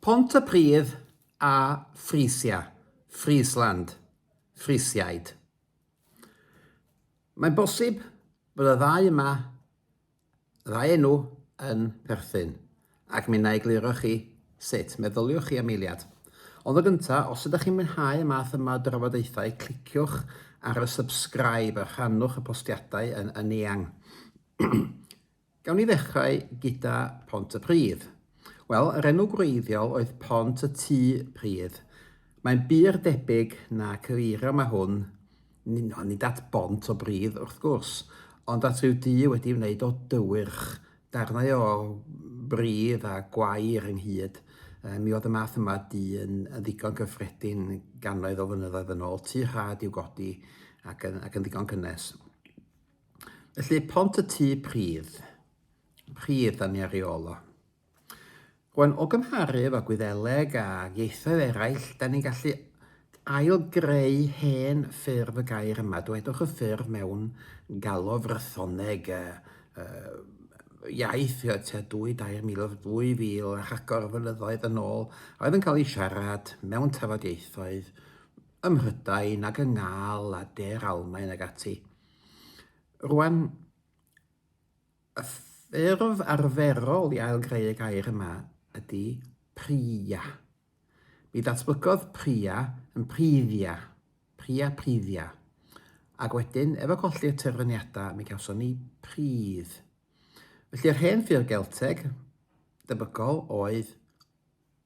Pontypridd a Frisia, Friesland, Frisiaid. Mae'n bosib bod y ddau yma, y ddau enw, yn perthyn, ac mi na egluro chi sut. Meddyliwch chi am eiliad. Ond o gynta, os ydych chi'n mwynhau y math yma o drafodaethau, cliciwch ar y subscribe a rhannwch y postiadau yn, yn eang. Gawn ni ddechrau gyda Pont y Pridd. Wel, yr enw gwreiddiol oedd Pont y Tŷ Pridd. Mae'n bur debyg na cyfeirio yma hwn, nid, nid at bont o bridd wrth gwrs, ond at ryw dŷ wedi wneud o dywyrch, darnau o bridd a gwair ynghyd. E, mi oedd y math yma dŷ yn, yn ddigon cyffredin gannoedd o flynyddoedd yn ôl, tŷ rhad i'w godi ac yn, ac yn ddigon cynnes. Felly, pont y tu pridd. Pridd, da ni ar ei ôl o. Rwan, o gymharu efo Gwyddeleg a ieithoedd eraill, da ni'n gallu ail-greu hen ffurf y gair yma. Dwedwch y ffurf mewn galw frythoneg, uh, uh, iaith uh, tua 2-3 o 2000 a rhagor o flynyddoedd yn ôl, a oedd yn cael ei siarad mewn tafodieithoedd ym Mhrydain ac yng Ngal a De'r Almaen ag ati. Rwan, y ffurf arferol i ailgreu y gair yma ydy priia. Mi ddatblygodd priia yn privia, priia privia, ac wedyn, efo colli'r terfyniadau, mi gawson ni pridd. Felly'r hen ffurf Gelteg debygol oedd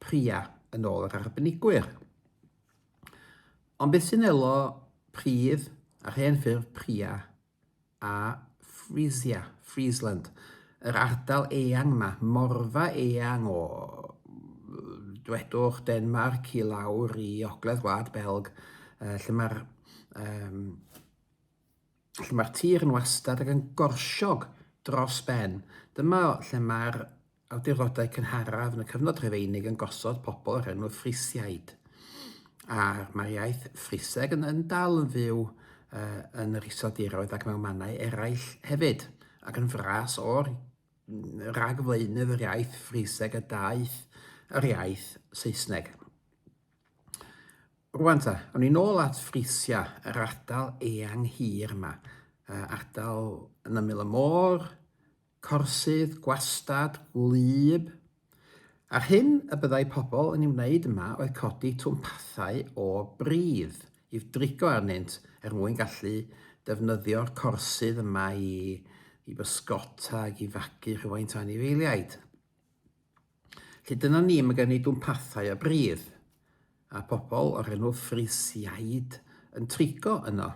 Priya, yn ôl yr arbenigwyr. Ond beth sy'n elo pridd a'r hen ffurf Priya a Frisia, Friesland, yr ardal eang yma, morfa eang o, dwedwch, Denmarc i lawr i ogledd Gwlad Belg, lle mae'r um, lle mae'r tir yn wastad ac yn gorsiog dros ben. Dyma lle mae'r awdurdodau cynharaf yn y cyfnod Rhufeinig yn gosod pobl o'r enw Frisiaid. A mae'r iaith Friseg yn, yn dal yn fyw uh, yn yr iseldiroedd ac mewn mannau eraill hefyd, ac yn fras o'r rhagflaenydd yr iaith Friseg y daeth yr iaith Saesneg. Rwan ta, awn ni nôl at Frisia, yr ardal eang hir yma. Uh, ardal yn ymyl y môr, corsydd, gwastad, gwlyb. A'r hyn y byddai pobl yn ei wneud yma oedd codi twmpathau o bridd i'w drigo arnynt er mwyn gallu defnyddio'r corsydd yma i, i bysgota ac i fagu rhywfaint o anifeiliaid. Lly dyna ni, mae gen i dwmpathau a bridd, a pobl o'r enw Frisiaid yn trigo yno.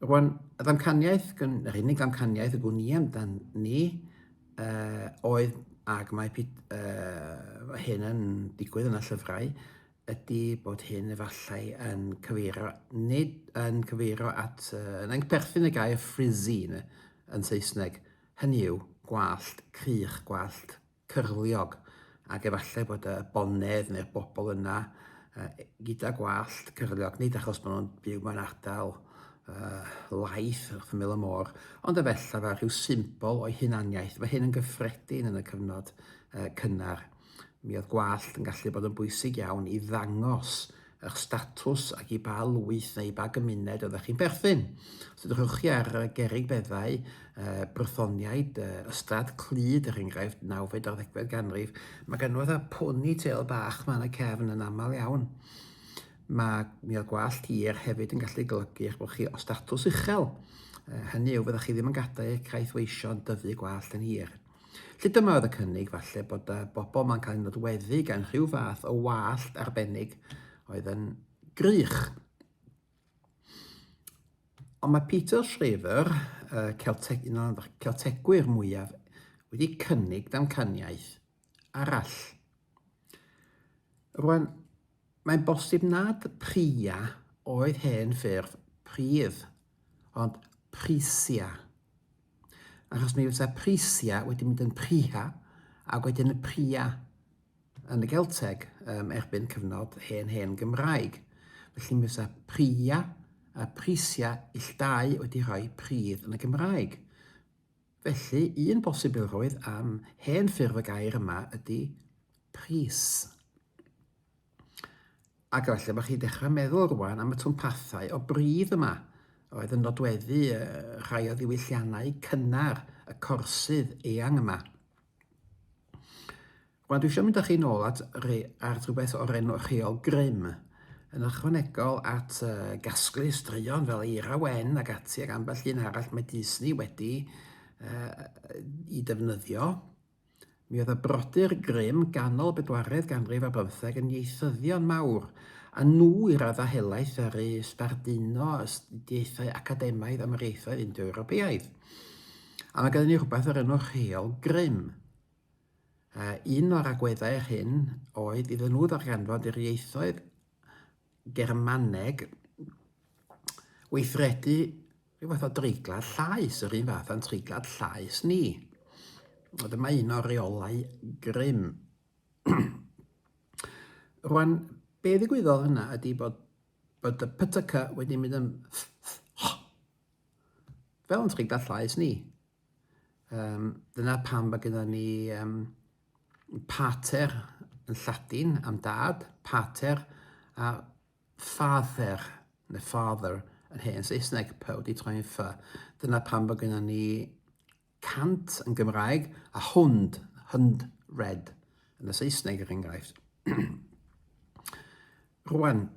Rwan, y ddamcaniaeth, yr unig ddamcaniaeth y gwn i amdan ni, uh, oedd, ag mae uh, hyn yn digwydd yn y llyfrau, ydy bod hyn efallai yn cyfeirio, nid yn cyfeirio at, uh, yn perthyn y gair frizzy yn Saesneg, hynny yw, gwallt crych, gwallt cyrliog, ac efallai bod y bonedd neu'r bobl yna uh, gyda gwallt cyrliog, nid achos bod nhw'n byw mewn ardal uh, laeth wrth ymyl y môr, ond efallai fel rhyw symbol o'i hunaniaeth. Mae hyn yn gyffredin yn y cyfnod uh, cynnar. Mi oedd gwallt yn gallu bod yn bwysig iawn i ddangos eich statws ac i ba lwyth neu i ba gymuned oeddech chi'n perthyn. Os ydych chi ar gerrig beddau, uh, brythoniaid, uh, ystrad clyd er enghraifft, nawfed ar ddegfed ganrif, mae gan oedd a pony tail bach mae yna cefn yn aml iawn. Mae mi oedd gwallt hir hefyd yn gallu golygu eich bod chi o statws uchel. Uh, hynny yw, fyddwch chi ddim yn gadael eich caeth weision dyfu gwallt yn hir. Felly dyma oedd y cynnig, falle bod y bobl ma'n cael ei nodweddu gan rhyw fath o wallt arbennig oedd yn grych. Ond mae Peter Shriver, y Celteg, un o'r Celtegwyr mwyaf, wedi cynnig damcaniaeth arall. Rwan, mae'n bosib nad pria oedd hen ffurf pridd, ond prisia. Achos mi fysa prisia wedi mynd yn priha, ac wedyn y pria yn y Gelteg um, erbyn cyfnod hen hen Gymraeg. Felly mi fysa pria a prisia illdau wedi rhoi pridd yn y Gymraeg. Felly, un bosibilrwydd am hen ffurf y gair yma ydy pris. A efallai bod chi'n dechrau meddwl rwan am y twmpathau o bridd yma oedd yn nodweddu rhai o ddiwylliannau cynnar y corsydd eang yma. Rwan dwi eisiau mynd â chi'n ôl at, at rhywbeth o'r enw rheol grym, yn ychwanegol at uh, gasglu straeon fel Eira Wen ac ati ac ambell un arall mae Disney wedi uh, i defnyddio. Mi oedd y brodyr Grimm ganol bedwaredd ganrif ar bymtheg yn ieithyddion mawr, a nhw i raddau helaeth ddaru sbarduno astudiaethau academaidd Amhariaethau Indo-Ewropeaidd. A mae gennym ni rhywbeth o'r enw Rheol Grimm. Uh, un o'r agweddau hyn oedd iddyn nhw ddarganfod yr ieithoedd Germaneg, weithredu rhyw fath o dreiglar llaes, yr un fath a'n treiglar llaes ni. A dyma un o'r reolau grym. Rwan, be ddigwyddodd yna ydy bod, bod y pytyca wedi mynd yn fel yn treiglar llaes ni. Um, dyna pam mae gyda ni um, pater yn Lladin am dad, pater a father, neu father yn hen Saesneg, pe wedi troi'n ffa. Dyna pam bod gyda ni cant yn Gymraeg a hwnd, hwnd red yn y Saesneg er enghraifft. Rwan,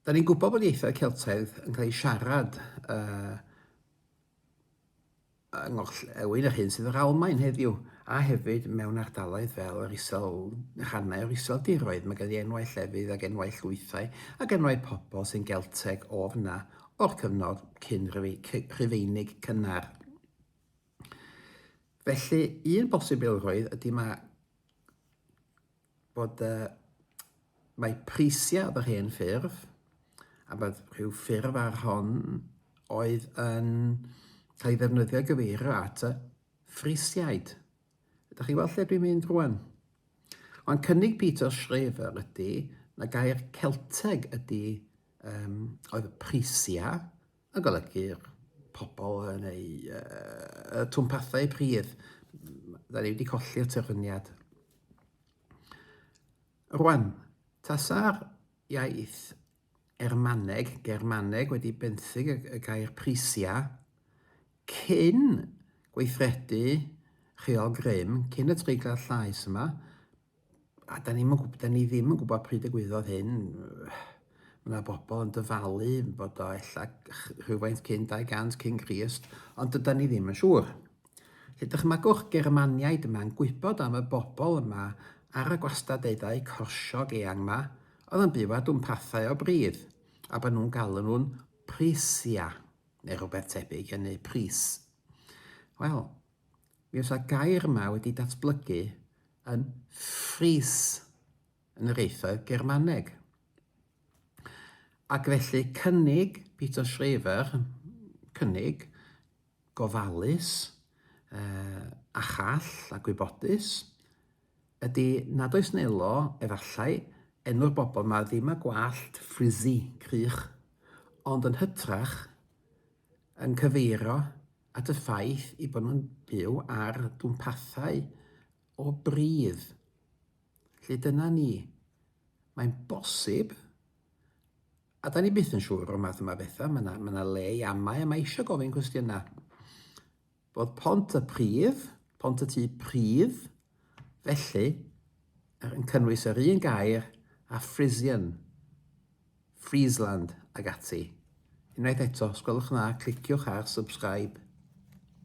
da ni'n gwybod bod ieithoedd Celtaidd yn cael eu siarad uh, yng ngorllewin yr hyn sydd yr Almaen heddiw, a hefyd mewn ardaloedd fel yr isel, rhannau o'r iseldiroedd. Mae gen i enwau llefydd ac enwau llwythau ac enwau pobl sy'n Gelteg o f'na, o'r cyfnod cyn Rhufeinig cynnar. Felly, un bosibilrwydd ydy mae bod uh, mae prisiau yr hen ffurf, a bod rhyw ffurf ar hon oedd yn cael ei ddefnyddio gyfeirio at y ffrisiaid. Ydych chi weld lle dwi'n mynd rwan? Ond cynnig Peter Schreiber ydy na gair Celteg ydy um, oedd y prisia, yn golygu'r pobl yn eu uh, twmpathau pridd. Da ni wedi colli'r terfyniad. Rwan, tasa'r iaith Ermaneg, Germaneg wedi benthyg y gair prisiau cyn gweithredu rheol grym, cyn y treiglau llais yma, a da ni ddim yn gwybod pryd y gwyddodd hyn, mae yna bobl yn dyfalu bod o ella rhywfaint cyn 200 cyn Crist, ond dyda ni ddim yn siŵr. Felly dychmygwch Germaniaid yma'n gwybod am y bobl yma ar y gwastadeddau corsiog eang yma, oedd yn byw ar dwmpathau o bridd, a bod nhw'n galw nhw'n prisia, neu rhywbeth tebyg hynny, pris. Wel, Mi oes y gair yma wedi datblygu yn fries yn yr ieithoedd Germaneg. Ac felly cynnig Peter Schreiber, cynnig gofalus, uh, a chall a gwybodus, ydy nad oes nelo, efallai, enw'r bobl mae ddim a gwallt frizzy, crych, ond yn hytrach yn cyfeirio at y ffaith ei bod nhw'n byw ar dwmpathau o bridd. Felly dyna ni. Mae'n bosib, a da ni byth yn siŵr o'r math yma bethau, mae yna, mae yna le i amau a mae eisiau gofyn cwestiynau. Bod pont y pridd, pont y tu pridd, felly, yn cynnwys yr un gair a Frisian, Friesland, ac ati. Unwaith eto, os gwelwch yn dda, cliciwch ar Subscribe.